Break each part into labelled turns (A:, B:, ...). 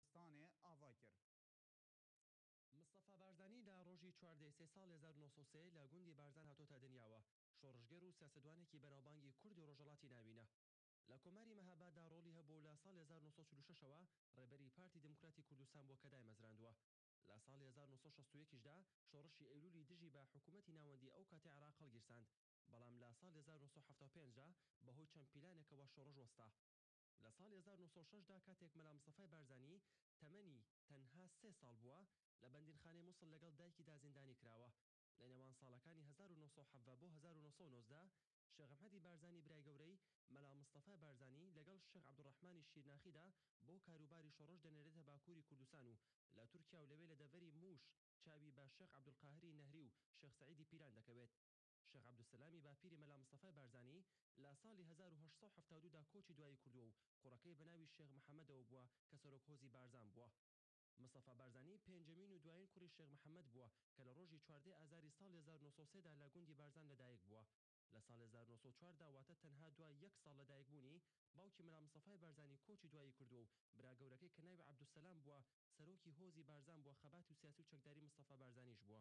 A: کوردستانێ ئاڤای کرد. مستەفا بارزانی لە ڕۆژی چواردە ی سێ ساڵ هەزار و نۆ سەد و سێ لە گوندی بارزان هاتۆتە دنیاوە، شۆڕشگێر و سیاسەتوانێکی بەناوبانگی کوردی ڕۆژەڵاتی ناوینە. لە کۆماری مهاباد دا ڕۆڵی هەبووە و لە ساڵی هەزار و نۆ سەد و چل و شەش ەوە ڕێبەری پارتی دیموکراتی کوردستان بووە کە دایمەزراندووە. لە ساڵی هەزار و نۆ سەد و شەست و یەک دا شۆڕشی ئەیلوولی دژی بە حکوومەتی ناوەندیی ئەو کاتی عێراق هەڵگیرساند، بەڵام لە ساڵی هەزار و نۆ سەد و حەفتا و پێنج دا بە هۆی چەند پیلانێکەوە شۆڕش وەستا. لە ساڵی هەزار و نۆ سەد و شەش دا کاتێک مەلا مستەفای بارزانی تەمەنی تەنها سێ ساڵ بووە، لە بەندینخانەی موسڵ لەگەڵ دایکیدا زیندانی کراوە. لە نێوان ساڵەکانی هەزار و نۆ سەد و حەڤدە بۆ هەزار و نۆ سەد و نۆزدە، شێخ ئەحمەدی بارزانی برای گەورەی، مەلا مستەفای بارزانی، لەگەڵ شێخ عەبدولڕەحمانی شیرناخیدا بۆ کاروباری شۆڕش دەنێرێتە باکووری کوردستان و لە تورکیا و لەوێ لە دەڤەری مووش چاوی بە شێخ عەبدولقاهری نەهری و شێخ سەعیدی پیران دەکەوێت. شێخ عەبدولسەلامی باپیری مەلا مستەفای بارزانی لە ساڵی هەزار و هەشت سەد و حەفتا و دوو دا کۆچی دوایی کردووە و کوڕەکەی بە ناوی شێخ محەمەدەوە بووە کە سەرۆک هۆزی بارزان بووە. مستەفا بارزانی پێنجەمین و دوایین کوڕی شێخ محەمەد بووە کە لە ڕۆژی چواردە ئازاری ساڵی هەزار و نۆ سەد و سێ دا لە گوندی بارزان لە دایک بووە. لە ساڵی هەزار و نۆ سەد و چوار دا واتە تەنها دوای یەک ساڵ لە دایک بوونی، باوکی مەلا مستەفای بارزانی کۆچی دوایی کردووە و برا گەورەکەی کە ناوی عەبدولسەلام بووە سەرۆکی هۆزی بارزان بووە خەباتی و سیاسی و چەکداری مستەفا بارزانیش بووە.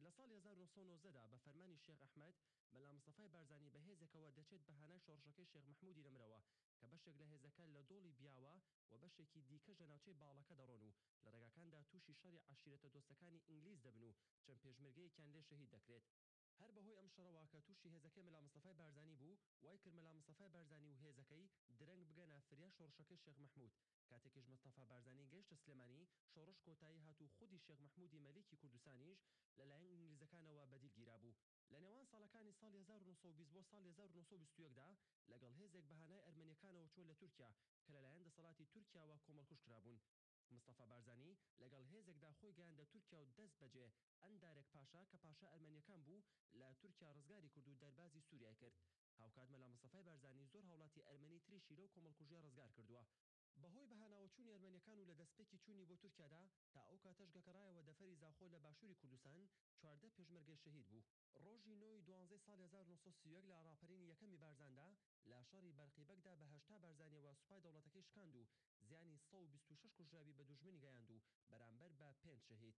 A: لە ساڵی هەزار و نۆ سەد و نۆزدە دا بە فەرمانی شێخ ئەحمەد، مەلا مستەفای بارزانی بە هێزێکەوە دەچێت بە هانای شۆڕشەکەی شێخ مەحموودی نەمرەوە کە بەشێک لە هێزەکە لە دۆڵی بیاوە و بەشێکی دیکەش لە ناوچەی باڵەکە دەڕۆن و لە ڕێگاکاندا تووشی شەڕی عەشیرەتە دۆستەکانی ئینگلیز دەبن و چەند پێشمەرگەیەکیان لێ شەهید دەکرێت. هەر بەهۆی ئەم شەڕەوە کە تووشی هێزەکەی مەلا مستەفای بارزانی بوو، وای کرد مەلا مستەفای بارزانی و هێزەکەی درەنگ بگەنە فریا شۆڕشەکەی شێخ مەحموود کاتێکیش مستەفا بارزانی گەیشتە سلێمانی، شۆڕش کۆتایی هات و خودی شێخ مەحموودی مەلیکی کوردستانیش لە لایەن ئینگلیزەکانەوە بەدیل گیرابوو. لە نێوان ساڵەکانی ساڵی هەزار و نۆ سەد و بیست بۆ ساڵی هەزار و نۆ سەد و بیست و یەک دا لەگەڵ هێزێک بە هانای ئەرمەنییەکانەوە چووە لە تورکیا کە لە لایەن دەسەڵاتی تورکیاوە کۆمەڵکوژ کرابوون. مستەفا بارزانی لەگەڵ هێزێکدا خۆی گەیاندە تورکیا و دەست بەجێ ئەندارێک پاشا کە پاشای ئەرمەنییەکان بوو لە تورکیا ڕزگاری کرد و دەربازی سووریای کرد. هاوکات مەلا مستەفای بارزانی زۆر هاوڵاتی ئەرمەنی تریشی لەو کۆمەڵکوژیە ڕزگار کردووە. بەهۆی بەهاناوەچوونی ئەرمەنیەکان و لەدەستپێکی چوونی بۆ تورکیادا، تا ئەو کاتەش گەکەڕایەوە دەفەری زاخۆ لە باشووری کوردستان، چواردە پێشمەرگەی شەهید بوو. ڕۆژی نۆ ی دوانزەی ساڵی هەزار و نۆ سەد و سی و یەک لە ڕاپەرینی یەکەمی بارزاندا لە شەڕی بەرقی بەگدا بە هەشتا بارزانیەوە سوپای دەوڵەتەکەی شکاند و زیانی سەد و بیست و شەش کوژراوی بە دوژمنی گەیاند و بەرامبەر بە پێنج شەهید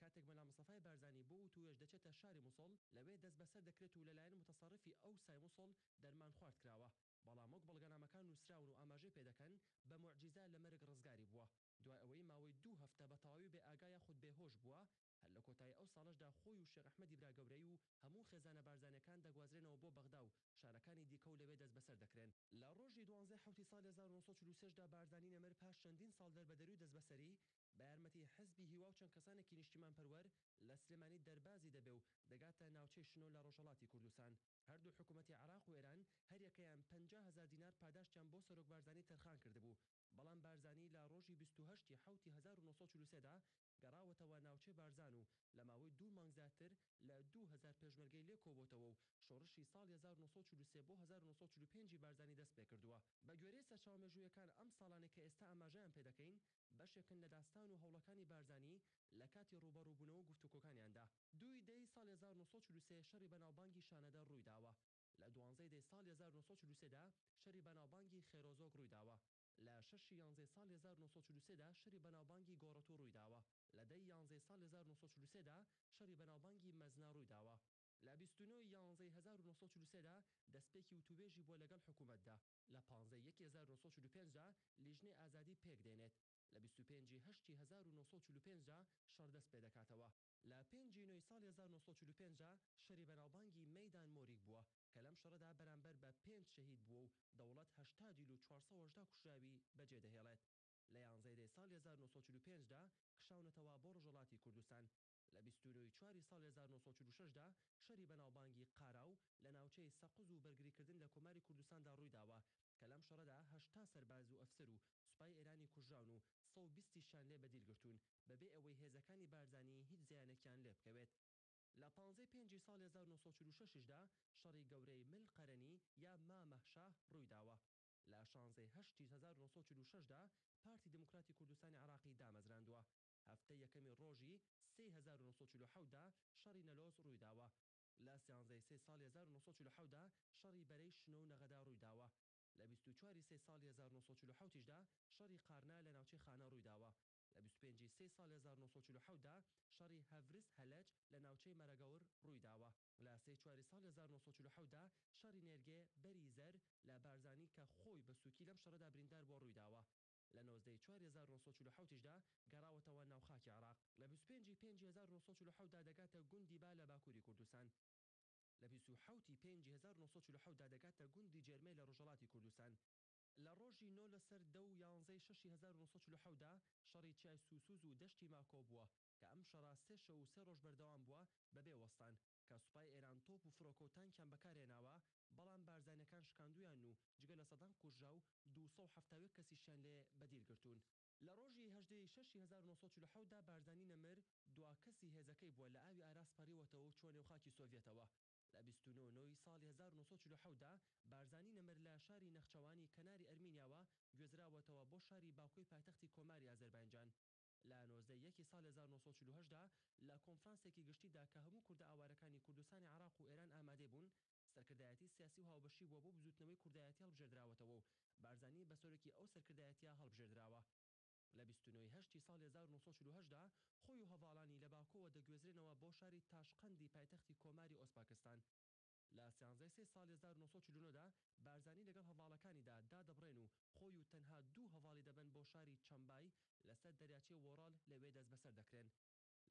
A: کاتێک مەلا مستەفای بارزانی بۆ وتووێژ دەچێتە شاری موسڵ، لەوێ دەستبەسەر دەکرێت و لەلایەن موتەسەڕیفی ئەوسای موسڵ دەرمان خوارد کراوە، بەڵام وەک بەڵگەنامەکان نووسراون و ئاماژەی پێ دەکەن، بە موعجیزە لە مەرگ ڕزگاری بووە. دوای ئەوەی ماوەی دوو هەفتە بە تەواوی بێ ئاگا یاخود بێ هۆش بووە، هەر لە کۆتایی ئەو ساڵەشدا خۆی و شێخ ئەحمەدی براگەورەی و هەموو خێزانە بارزانییەکان دەگوازرێنەوە بۆ بەغدا و شارەکانی دیکە و لەوێ دەستبەسەر دەکرێن. لە ڕۆژی دوانزەی حەوتی ساڵی هەزار و نۆ سەد و چل و سێ دا بارزانی نەمر پاش چەندین ساڵ دەربەدەری و دەستبەسەری، بە یارمەتی حزبی هیوا و چەند کەسانێکی نیشتیمانپەروەر لە سلێمانی دەربازی دەبێ و دەگاتە ناوچەی شنۆ لە ڕۆژهەڵاتی کوردستان. هەردوو حکوومەتی عێراق و ئێران هەریەکەیان پەنجا هەزار دینار پاداشتیان بۆ سەرۆک بارزانی تەرخان کردبوو، بەڵام بارزانی لە ڕۆژی بیست و هەشت ی حەوت ی هەزار و نۆ سەد و چل و سێ دا گەڕاوەتەوە ناوچەی بارزان و لە ماوەی دوو مانگ زیاتر لە دوو هەزار پێشمەرگەی لێ کۆبۆتەوە و شۆڕشی ساڵی هەزار و نۆ سەد و چل و سێ بۆ هەزار و نۆ سەد و چل و پێنج ی بارزانی دەست پێ کردووە. بە گوێرەی سەرچاوە مێژوویەکان ئەم ساڵانەی کە ئێستا ئاماژەیان پێ دەکەین بەشێکن لە داستان و هەوڵەکانی بارزانی لە کاتی ڕووبەڕووبوونەوە و گفتوکۆکانیاندا. دووی دەی ساڵی هەزار و نۆ سەد و چل و سێ شەڕی بەناوبانگی شانەدەر ڕوویداوە، لە دوانزەی دەی ساڵی هەزار و نۆ سەد و چل و سێ دا شەری بەناوبانگی خێرۆزۆک ڕوویداوە، لە شەشی یانزەی ساڵی هەزار و نۆ سەد و چل و سێ دا شەری بەناوبانگی گۆڕەتوو ڕوویداوە، لە دەی یانزەی ساڵی هەزار و نۆ سەد و چل و سێ دا شەری بەناوبانگی مەزنە ڕوویداوە. لە بیست و نۆ ی یانزەی هەزار و نۆ سەد و چل و سێ دا دەستپێکی وتووێژی بووە لەگەڵ حکوومەتدا. لە پانزەی یەکی هەزار و نۆ سەد و چل و پێنج دا لیژنەی ئازادی پێک دێنێت، لە بیست و پێنج ی هەشتی هەزار و نۆ سەد و چل و پێنج دا شەڕ دەست پێ دەکاتەوە. لە پێنج ی نۆی ساڵی هەزار و نۆ سەد و چل و پێنج دا شەری بەناوبانگی مەیدان مۆریک بووە کە لەم شەڕەدا بەرامبەر بە پێنج شەهید بووە و دەوڵەت هەشتا دیل و چوار سەد و هەژدە کوژراوی بە جێ دەهێڵێت. لە یانزەی دەی ساڵی هەزار و نۆ سەد و چل و پێنج دا کشاونەتەوە بۆ ڕۆژەڵاتی کوردستان. لە بیست و نۆی چواری ساڵی هەزار و نۆ سەد و چل و شەش دا شەری بەناوبانگی قاراو لە ناوچەی سەقز و بەرگریکردن لە کۆماری کوردستاندا ڕوویداوە کە لەم شەڕەدا هەشتا سەرباز و ئەفسەر و سوپای ئێرانی کوژراون و سەد و بیست یشیان لێ بەدیل گرتوون بەبێ ئەوەی هێزەکانی بارزانی هیچ زیانێکیان لێ بکەوێت. لە پانزەی پێنجی ساڵی هەزار و نۆ سەد و چل و شەش دا شەڕی گەورەی مل قەرەنی یا مامە شاه ڕوویداوە. لە شانزەی هەشتی هەزار و نۆ سەد و چل و شەش دا پارتی دیموکراتی کوردستانی عێراقی دامەزراندووە هەفتەی یەکەمی ڕۆژی سێی هەزار و نۆ سەد و چل و حەوت دا شەڕی نەلۆس ڕوویداوە. لە سیانزەی سێی ساڵی هەزار و نۆ سەد و چل و حەوت دا شەڕی بەرەی شنۆ و نەغەدا ڕوویداوە. لە بیست و چوار ی سێی ساڵی هەزار و نۆ سەد و چل و حەوت یشدا شەڕی قارنا لە ناوچەی خانە ڕوویداوە. لە بیست و پێنج ی سێی ساڵی هەزار و نۆ سەد و چل و حەوت دا شەڕی هەڤرس هەلەج لە ناوچەی مەرەگەور ڕوویداوە. لە سێی چوار ی ساڵی هەزار و نۆ سەد و چل و حەوت دا شەڕی نێرگێ، بەری زەر، لە بارزانی کە خۆی بە سووکی لەم شەڕەدا بریندار بووە ڕوویداوە. لە نۆزدە ی چوار هەزار و نۆ سەد و چل و حەوت یشدا گەڕاوەتەوە ناو خاکی عێراق، لە بیست و پێنج ی پێنج هەزار و نۆ سەد و چل و حەوت دا دەگاتە گوندی با لە باکووری کوردستان، لە بیست و حەوت ی پێنج ی هەزار و نۆ سەد و چل و حەوت دا دەگاتە گوندی جێرمێ لە ڕۆژهەڵاتی کوردستان، لە ڕۆژی نۆ لەسەر دە و یانزە ی شەش ی هەزار و نۆ سەد و چل و حەوت دا شەڕی چیای سووسووز و دەشتی ماکۆ بووە، کە ئەم شەڕە سێ شەو و سێ ڕۆژ بەردەوام بووە بەبێ وەستان. کە سوپای ئێران تۆپ و فرۆکە و تانکیان بەکار هێناوە، بەڵام بارزانیەکان شکاندویان و جگە لە سەدان کوژراو دوو سەد و حەفتا و یەک کەسیشیان لێ بە دیل گرتوون. لە ڕۆژی هەژدە ی شەش ی هەزار و نۆ سەد و چل و حەوت دا بارزانی نەمر دوا کەسی هێزەکەی بووە لە ئاوی ئاراس پەڕیوەتەوە و چووە نێو خاکی سۆڤیەتەوە. لە بیست و نۆ نۆ ی ساڵی هەزار و نۆ سەد و چل و حەوت دا بارزانی نەمر لە شاری نەخچەوانی کەناری ئەرمینیاوە گوێزراوەتەوە بۆ شاری باکۆی پایتەختی کۆماری ئازەرباینجان. لە نۆزدە ی یەکی ساڵی هەزار و نۆ سەد و چل و هەشت دا لە کۆنفرانسێکی گشتیدا کە هەموو کوردە ئاوارەکانی کوردستانی عێراق و ئێران ئامادەی بوون، سەرکردایەتی سیاسی و هاوبەشی بووە بۆ بزووتنەوەی کوردایەتی هەڵبژێردراوەتەوە و بارزانی بە سەرۆکی ئەو سەرکردایەتییە هەڵبژێردراوە. لە بیست و نۆ ی هەشتی ساڵی هەزار و نۆ سەد و چل و هەشت دا خۆی و هەڤاڵانی لە باکۆوە دەگوێزرێنەوە بۆ شاری تاشقەندی پایتەختی کۆماری ئۆزپاکستان، لە سیانزەی سێ ساڵی هەزار و نۆ سەد و چل و نۆ دا، بارزانی لەگەڵ هەڤاڵەکانیدا دادەبڕێن و خۆی و تەنها دوو هەڤاڵی دەبەن بۆ شاری چەمبای لەسەر دەریاچەی وۆرال لەوێ دەستبەسەر دەکرێن.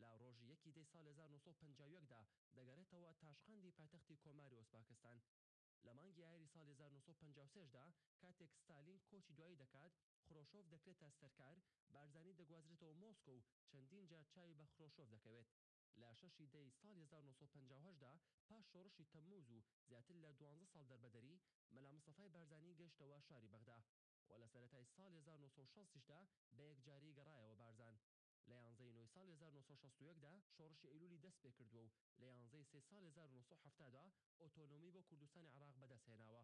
A: لە ڕۆژی یەکی دەی ساڵی هەزار و نۆ سەد و پەنجا و یەک دا دەگەرێتەوە تاشقەندی پایتەختی کۆماری ئۆزپاکستان. لە مانگی ئایاری ساڵی هەزار و نۆ سەد و پەنجا و سێ دا کاتێک ستالین کۆچی دوایی دەکات، خرۆشۆف دەکرێتە سەرکار، بارزانی دەگوازرێتەوە مۆسکۆ و چەندین جار چاوی بە خرۆشۆف دەکەوێت. لە شەشی دەی ساڵی هەزار و نۆ سەد و پەنجا و هەشت دا پاش شۆڕشی تەمموز و زیاتر لە دوانزە ساڵ دەربەدەری، مەلا مستەفای بارزانی گەشتەوە شاری بەغدا و لە سەرەتای ساڵی هەزار و نۆ سەد و شەست یش دا بە یەکجاری گەڕایەوە بارزان. لە یانزە ی نۆی ساڵی هەزار و نۆ سەد و شەست و یەک دا شۆڕشی ئەیلولی دەست پێ کردووە و لە یانزە ی سێی ساڵی هەزار و نۆ سەد و حەفتا دا ئۆتۆنۆمی بۆ کوردستانی عێڕاق بە دەست هێناوە.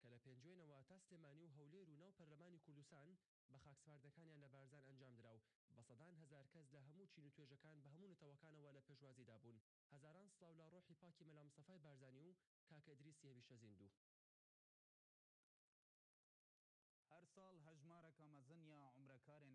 A: کە لە پێنجوێنەوە تا سلێمانی و هەولێر و ناو پەرلەمانی کوردستان بە خاکسپاردنەکانیان لە بارزان ئەنجام درا و بە سەدان هەزار کەس لە هەموو چین و توێژەکان بە هەموو نەتەوەکانەوە لە پێشوازیدا بوون. هەزاران سڵاو لە ڕۆحی پاکی مەلا مستەفای بارزانی و کاکە ئیدریسی هەمیشە زیندوو. هەر ساڵ هەژمارەکە مەزن یا عومرەکارێن